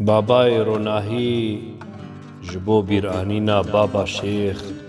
Babayê ronahî ji bo bîranîna Baba Şêx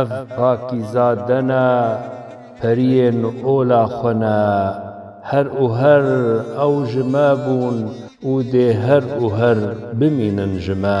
Ev pakîzade ne, periyên ola xwe ne. Her û her ew ji me bûn û dê her û her bimînin ji me.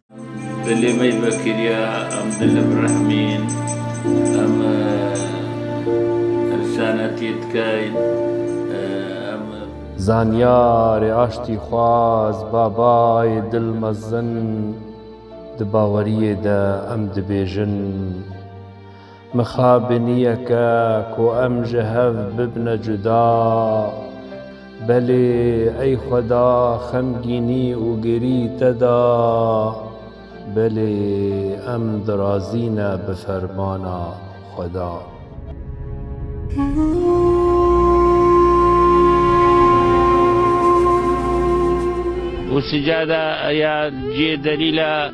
Dilê me yê vekiriya, em di li birehmîn, em insanetiyê dikeyn, em. Zanyarê aştîxwaz, babayê dil mezin, di baweriyê de em dibêjin. Mixabiniyeke ku em ji hev bibne cuda. Belê ey xweda xemgînî û gerî te da. Belê em dirazî ne bi fermana xweda. Û sicada ya ciyê delîla.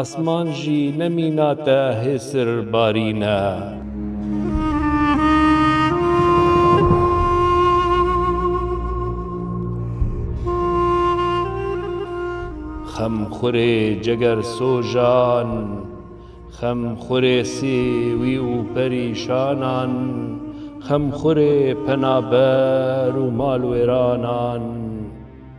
Asman jî ne mîna te hêsir barîne. Xemxurê cegersojan, xemxurê sêwî û perîşanan, xemxurê penaber û malwêranan.